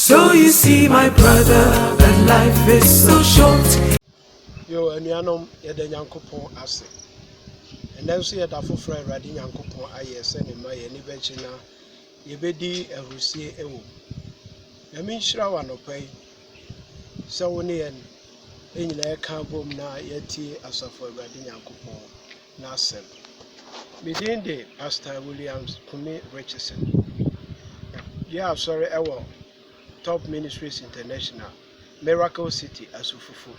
So you see my brother that life is so short. Yo, anuanom, yɛda Nyankopɔn ase. Ɛnɛ nso yɛda foforɔ a Awurade Nyankopɔn ayɛ sɛ ne mma yɛn ani bɛgye na yɛbɛdi ahurisie wɔ mu. Nyame nhyira wɔ anɔpa yi sɛ wo ne yɛn nyinaa yɛka abom na yɛatie asafo Awurade Nyankopɔn n'asɛm. Me din de Pastor Williams Kumi Richardson. Yɛ asɔre wɔ Top Ministries International, Miracle City, Asufufu.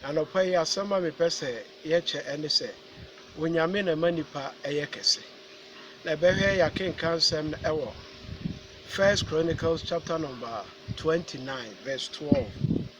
Anɔpa yi asɛm a mepɛ sɛ yɛkyɛ ɛne sɛ Onyame na ɛma nipa ɛyɛ kɛse. Na ɛbɛhwɛ yɛakenkan nsɛm no ɛwɔ First Chronicles chapter number 29 verse 12.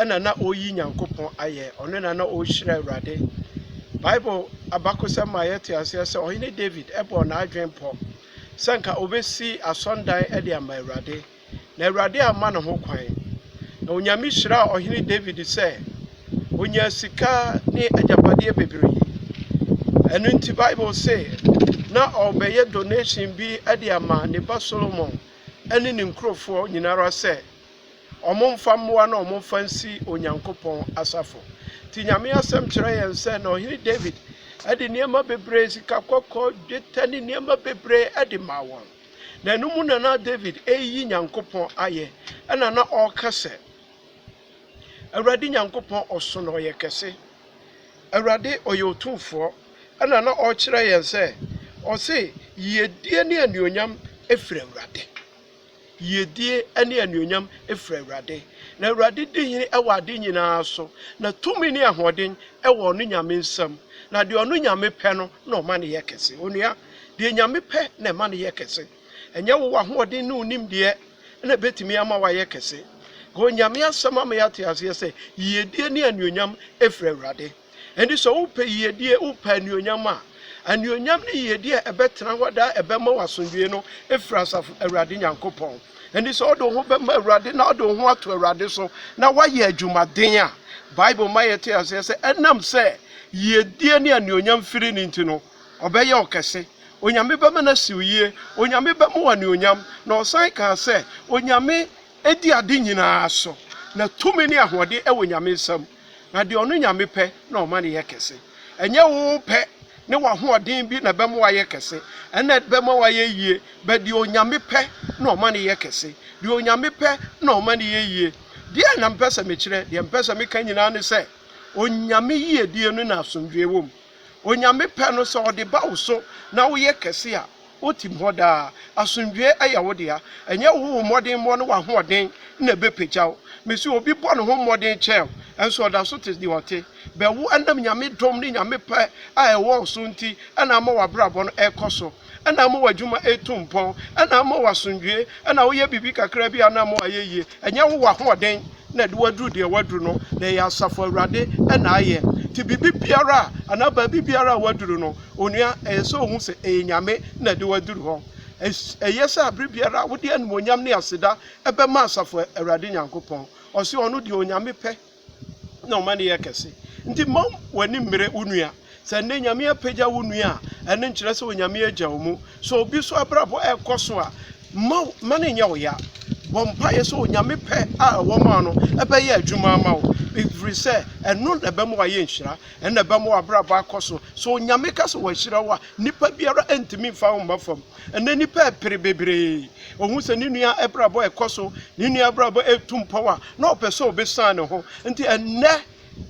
ɛna na ɔreyi Nyankopɔn ayɛ, ɔno na na ɔrehyira Awurade. Bible abakosɛm ma yɛte aseɛ sɛ ɔhene David bɔɔ n'adwene pɔ sɛ nka ɔbɛsi asɔndan de ama Awurade, na Awurade amma ne ho kwan. Na Onyame hyiraa ɔhene David sɛ ɔnyaa sika ne agyapadeɛ bebree. Ɛno nti Bible se na ɔrebɛyɛ donation bi de ama ne ba Solomon ne ne nkurɔfoɔ nyinara sɛ, Wɔmfa mmoa na wɔmfa nsi Onyankopɔn asafo. Nti Nyame asɛm kyerɛ yɛn sɛ na ɔhene David de nneɛma bebree, sika kɔkɔɔ, dwetɛ ne nneɛma bebree de maa wɔn. Na ɛno mu na na David reyi Nyankopɔn ayɛ, ɛna na ɔreka sɛ, Awurade Nyankopɔn ɔso na ɔyɛ kɛse. Awurade ɔyɛ otumfoɔ. Ɛna na ɔrekyerɛ yɛn sɛ, ɔse, Yiedie ne anuonyam firi Awurade. Yiedie ne anuonyam firi Awurade, na Awurade di hene wɔ ade nyina ara so, na tumi ne ahoɔden wɔ ɔno Nyame nsam, na deɛ ɔno Nyame pɛ no na ɔma no yɛ kɛse. Onua, deɛ Nyame pɛ na ɛma no yɛ kɛse, ɛnyɛ wo w'ahoɔden ne wo nimdeɛ na ɛbɛtumi ama woayɛ kɛse. Onyame asɛm ama yɛate aseɛ sɛ, Yiedie ne anuonyam firi Awurade. Enti sɛ wopɛ yiyedi, wopɛ anuonyam a, anuonyam ne yiyedi a ɛbɛtena hɔ daa a ɛbɛma wo asomdwoe no firi asafo Awurade Nyankopɔn. Enti sɛ wode wo ho bɛma Awurade na wode wo ho ato Awurade so na woayɛ adwumaden a, Bible ma yɛte aseɛ sɛ ɛnam sɛ yiyedie ne anuonyam firi no nti no, ɔbɛyɛ wo kɛse. Onyame bɛma no asi wo yie. Onyame bɛma wo anuonyam. Na ɔsan kaa sɛ, Onyame di ade nyinaa so, na tumi ne ahoɔden wɔ Nyame nsam. Na deɛ ɔno Nyame pɛ na ɔma no yɛ kɛse. Ɛnyɛ wo pɛ ne w'ahoɔden bi na ɛbɛma wayɛ kɛse. Ɛna ɛbɛma wayɛ yie. But deɛ Onyame pɛ na ɔma no yɛ kɛse. Deɛ Onyame pɛ na ɔma no yɛ yie. Deɛ na mpɛ sɛ mekyerɛ, deɛ mpɛ sɛ meka nyinaa ne sɛ, Onyame yiedie no na asomdwoeɛ wɔ mu. Onyame pɛ no, sɛ ɔde ba wo so na woyɛ kɛse a, wotim hɔ daa. Asomdwoeɛ yɛ wo dea. Ɛnyɛ wo wo mmɔdenmɔ ne w'ahoɔden na ɛbɛpagya wo. Mese obi bɔ ne ho mmɔden kyɛɛ wo, nso ɔda so te deɛ ɔte. Bɛ wo ɛnam Nyame dom ne Nyame pɛ a ɛwɔ wo so nti na ama w'abrabɔ no ɛrekɔ so. na ama w'adwuma retu mpɔn, na ama wo asomdwoeɛ, na woyɛ biribi kakra bi a na ama wayɛ yie. Ɛnyɛ wo w'ahoɔden na ɛde wo aduru deɛ woaduru no, na ɛyɛ Asafo Awurade na ayɛ. Nti biribi biara a, anaa baabi biara a woaduru no, onua, ɛyɛ sɛ wohu sɛ ɛyɛ Nyame na ɛde wo aduru hɔ. Ɛyɛ sɛ aberɛ biara wode animuonyam ne aseda bɛma Asafo Awurade Nyankopɔn. Ɔse ɔno deɛ Onyame pɛ. na ɔma no yɛ kɛse. Nti mma w'ani mmere wo nua. Sɛ nnɛ Nyame apagya wo nua a, ɛno nkyerɛ sɛ Onyame agya wo mu. Sɛ obi so abrabɔ ɛɛkɔ so a, mma mma no nyɛ wo ya. Bɔ mpaeɛ sɛ Onyame pɛ a ɛwɔ maa no ɛbɛyɛ adwuma ama wo. Ɛfiri sɛ ɛno na ɛbɛma w'ayɛ nhyira, ɛno na ɛbɛma w'abrabɔ akɔ so. Sɛ Onyame ka sɛ wahyira wo a, nnipa biara ntumi mfa wo mma fam. Ɛnnɛ nnipa repere bebree. Ohu sɛ ne nua abrabɔ rekɔ so, ne nua abrabɔ retu mpɔw a, na ɔpɛ sɛ obesuan ne ho. Enti ɛnnɛ,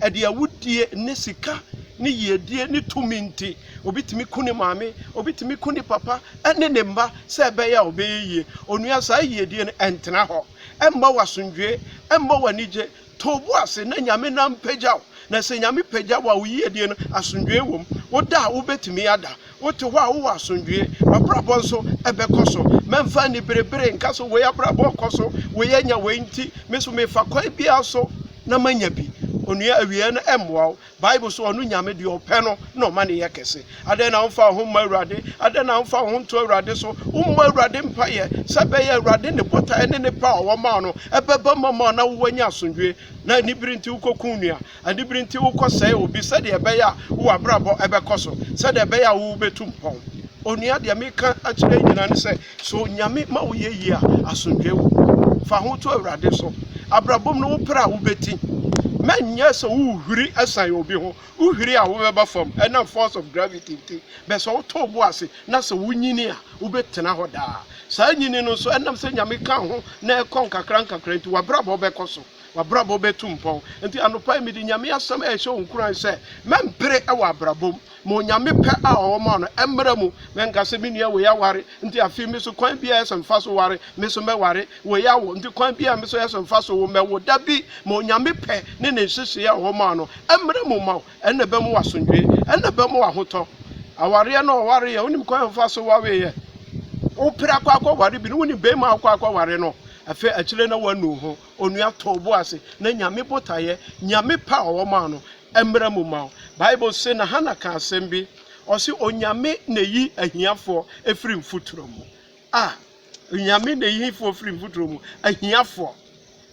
ɛde awudie ne sika ne yiedie ne tumi nti, obi tumi ku ne maame, obi tumi ku ne papa ne ne mma sɛ ɛbɛyɛ a ɔbɛyɛ yie. Onua, saa yiedie no, ɛntena hɔ. Ɛmma wo asomdwoe, ɛmma wo anigye. To wo bo ase na Nyame nan pagya wo, na sɛ Nyame pagya wo a, wo yiedie no, asomdwoeɛ wɔ mu. Woda a, wobɛtumi ada. Wote hɔ a, wowɔ asomdwoeɛ. W'abrabɔ nso bɛkɔ so. Mɛmfa aniberebere nka sɛ wei abrabɔ rekɔ so, wei anya wei nti, me nso mefa kwan biara so na manya bi. Onua, awieɛ no mmoa wo. Bible so ɔno Nyame deɛ ɔpɛ no na ɔma no yɛ kɛse. Adɛn na womfa wo ho mmɔ Awurade? Adɛn na womfa wo ho nto Awurade so? Wommɔ Awurade mpaeɛ sɛ ɛbɛyɛ Awurade ne botaeɛ ne ne pɛ a ɔwɔ ma wo no ɛbɛba mu ama wo na wowɔ anya asomdwoeɛ. Na anibere nti wokɔku nua, anibere nti wokɔsɛe obi sɛdeɛ ɛbɛyɛ a wo abrabɔ ɛbɛkɔ so, sɛdeɛ ɛbɛyɛ a wo bɛtu mpɔn. Onua deɛ meka akyerɛ nyinaa ne sɛ, So Nyame ma wo yɛ yie a asomdwoe wɔ hɔ? Fa ho to Awurade so. Abrabɔ mu no wo pere a wobɛti ma nyɛ sɛ wohuri san obi ho. Wohuri a wobɛba fam ɛnam force of gravity nti. Bɛ sɛ wotɔ wo bo ase na sɛ wonyini a wobɛtena hɔ daa. Saa nyini no nso ɛnam sɛ Nyame ka ho na ɛkɔ nkakra nkakra nti w'abrabɔ bɛkɔ so. W'abrabɔ bɛtu mpɔn. Nti anɔpa yi mede Nyame asɛm ɛrehyɛ wo nkuran sɛ, mɛmpere wɔ abrabɔ mu. Ma Onyame pɛ a ɔwɔ ma wo no mmra mu. Mɛnka sɛ, menua wei aware, nti afei me so kwan biara yɛ sɛ mefa so ware, me so mɛware. Wei awo, nti kwan biara me so yɛ sɛ mefa so wo, mɛwo. Dabi, ma Onyame pɛ ne Ne nhyehyee a ɔwɔ ma wo no mmra mu mma wo. Ɛno na ɛbɛma wo asomdwoe. Ɛno na ɛbɛma wo ahotɔ. Awareɛ no ɔwareɛ, wonim kwan a wofa so waweeɛ? Wopere akɔ akɔware bi no, wonim bɛɛma a wokɔ akɔware no? Afei akyire na wanu ho onua too bo ase na Nyame botaeɛ, Nyame pɛ a ɔmaa no, mmra mu ma wo. Bible se na Hannah kaa asɛm bi, ɔse Onyame na eyi ahiafoɔ firi mfuturo mu. Ah! Onyame na eyi hefoɔ firi mfuturo mu? Ahiafoɔ.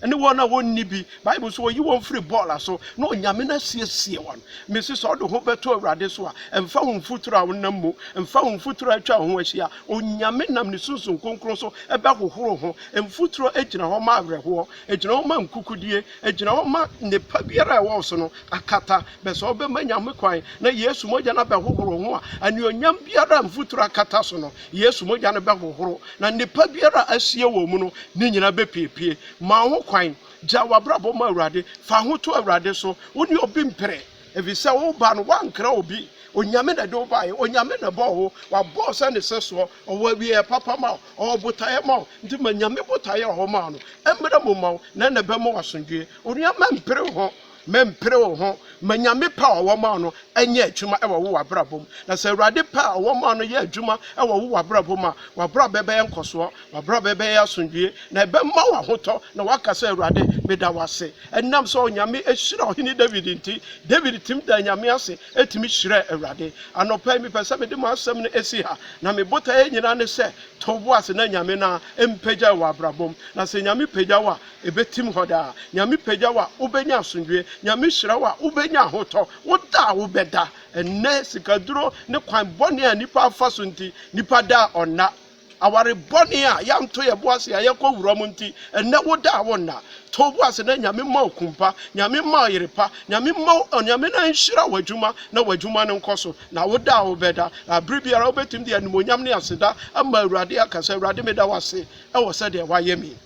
Ɛne wɔn a wɔnni bi. Bible se ɔyi wɔn firi bɔɔla so na Onyame na asiesie wɔn. Mese sɛ ɔde ho bɛto Awurade so a, mfa wo mfuturo a wonam mu, mfa wo mfuturo a atwa wo ho ahyia, Onyame nam ne Sunsum Kronkron so bɛhohoro ho. Mfuturo gyina hɔ ma awerɛhoɔ, ɛgyina hɔ ma nkukudie, ɛgyina hɔ ma nnepa biara a ɛwɔ wo so no akata. Bɛ sɛ wobɛma Nyame kwan na Yesu mogya no abɛhohoro wo ho a, anuonyam biara a mfuturo akata so no, Yesu mogya no bɛhohoro, na nnepa biara a asie wɔ wo mu no, ne nyinaa bɛpiepie. Ma wo ho kwan, gya w'abrabɔ ma Awurade, fa ho to Awurade so, wo ne obi mpere. Efisɛ wo ba no, woankra obi, Onyame na ɛde wo baeɛ, Onyame na ɛbɔɔ wo, wabɔ wo sɛ ne sɛsoɔ, ɔwɔ awieɛ papa ma wo, ɔwɔ botaeɛ ma wo, nti ma Nyame botaeɛ a ɔmaa no mmra mu mma wo, na ɛna ɛbɛma wo asomdwoeɛ. Onua, mɛmpere wo ho, mɛmpere wo ho, ma Nyame pɛ a ɔwɔ ma wo no nyɛ adwuma wɔ wo w'abrabɔ mu, na sɛ Awurade pɛ a ɔwɔ ma wo no yɛ adwuma wɔ wo w'abrabɔ mu a, w'abrabɔ bɛyɛ nkɔsoɔ, W'abrabɔ bɛyɛ asomdwoeɛ, na ɛbɛma wo ahotɔ, na woaka sɛ, Awurade, meda wo ase. Ɛnam sɛ Onyame ahyira Ɔhene Dawid nti, Dawid tumi daa Nyame ase tumi hyirɛɛ Awurade. Anɔpa yi, mepɛ sɛ mede m'asɛm no si ha, na me botaeɛ nyinaa ne sɛ, to wo bo ase na Nyame no ara mpagya wo wɔ w'abrabɔ mu. Na sɛ Nyame pagya wo a, ɛbɛtim hɔ daa. Nyame pagya wo a, wobɛnya asomdwoeɛ. Nyame hyira wo a, wobɛnya ahotɔ. Wo da a wobɛda, ɛnnɛ, sikaduro ne kwan bɔne a nnipa afa so nti, nnipa da a ɔnna. Aware bɔne a yɛanto yɛn bo ase a yɛkɔ wura mu nti, ɛnnɛ woda a wonna. To wo bo ase na Nyame mma wo kun pa, Nyame mma wo yere pa, Nyame mma wo, Onyame na nhyira w'adwuma na w'adwuma no nkɔ so, na wo da a wobɛda, na bere biara wobɛtumi de animuonyam ne aseda ama Awurade aka sɛ, Awurade meda wo ase wɔ sɛdeɛ woayɛ me yi.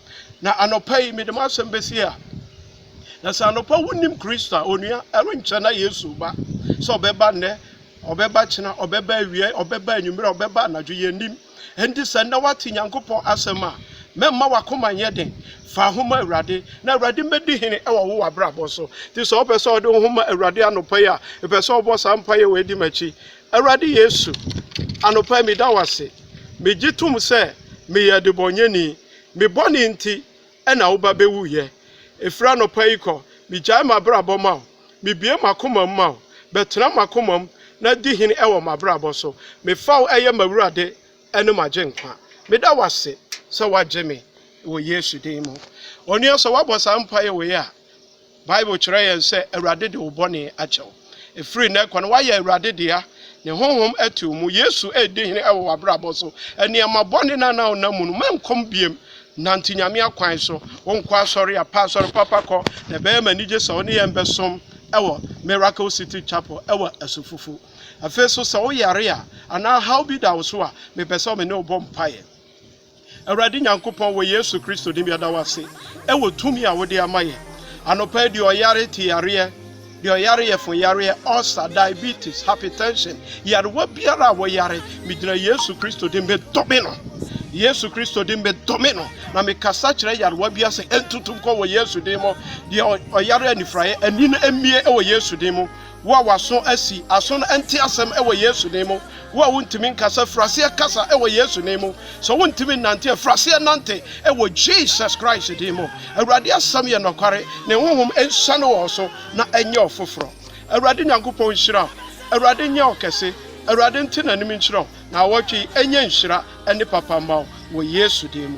Na anɔpa yi mede m'asɛm bɛsie ha. Na sɛ anɔpa wonnim Kristo a, onua, ɛrenkyɛ na Yesu reba, sɛ ɔbɛba nnɛ, Ɔbɛba kyena, ɔbɛba awia, ɔbɛba anwummere, ɔbɛba anadwo, yɛnnim. Enti sɛ nnɛ woate Nyankopɔn asɛm a, mɛmma w'akoma nyɛ den. Fa ho ma Awurade, na Awurade mmɛdi hene wɔ wo w'abrabɔ so. Nti sɛ wopɛ sɛ wode wo ho ma Awurade anɔpa yi a, mepɛ sɛ wobɔ saa mpaeɛ wei di m'akyi. Awurade Yesu, anɔpa yi meda wo ase. Megye tom sɛ meyɛ adebɔnyɛni. Me bɔne nti, na wo ba bɛwu yɛ. Ɛfiri anɔpa yi kɔ, megyae m'abrabɔ ma wo, mebue m'akomam ma wo, bɛtena m'akomam na di hene wɔ m'abrabɔ so. Mefa wo yɛ m'awurade ne m'agyenkwa. Meda wo ase sɛ woagye me wɔ Yesu din mu. Onua sɛ woabɔ saa mpaeɛ wei a, Bible kyerɛ yɛn sɛ, Awurade de wo bɔne akyɛ wo. Ɛfiri nnɛ rekɔ no, woayɛ Awurade dea. Ne Honhom te wo mu. Yesu redi hene wɔ w'abrabɔ so. Nneɛma bɔne no a na wonam mu no, mɛnkɔ mu bio. Nante Nyame akwan so. Wonkɔ asɔre a, pɛ asɔre papa kɔ, na ɛbɛyɛ me anigye sɛ wo ne yɛn bɛsom wɔ Miracle City Chapel wɔ Asufufu. Afei nso, sɛ woyare a, anaa haw bi da wo so a, mepɛ sɛ me ne wo bɔ mpaeɛ. Awurade Nyankopɔn, wɔ Yesu Kristo din mu yɛda wo ase wɔ tumi a wode ama yɛn anɔpa yi. Deɛ ɔyare ti yareɛ, deɛ ɔyare yɛfo yareɛ, ulcer, diabetes, hypertension, yarewa biara a wɔyare, megyina Yesu Kristo din medome no. Yesu Kristo din medome no, na mekasa kyerɛ yarewa biara sɛ ɛntutu nkɔ wɔ Yesu din mu. Deɛ ɔyare anifuraeɛ, ani no mmie wɔ Yesu din mu. Wo a w'aso asi, aso no nte asɛm wɔ Yesu din mu. Wo a wontumi nkasa, firi aseɛ kasa wɔ Yesu din mu. Sɛ wontumi nnante a, firi aseɛ nante wɔ Jesus Christ din mu. Awurade asɛm yɛ nɔkware, Ne Honhom nsiane wɔ wo so na ɛnyɛ ɔfoforɔ. Awurade Nyankopɔn nhyira wo. Awurade nyɛ wo kɛse. Awurade nte n'anim nkyerɛ wo, na awɔtwe yi nyɛ nhyira ne papa mma wo wɔ Yesu din mu.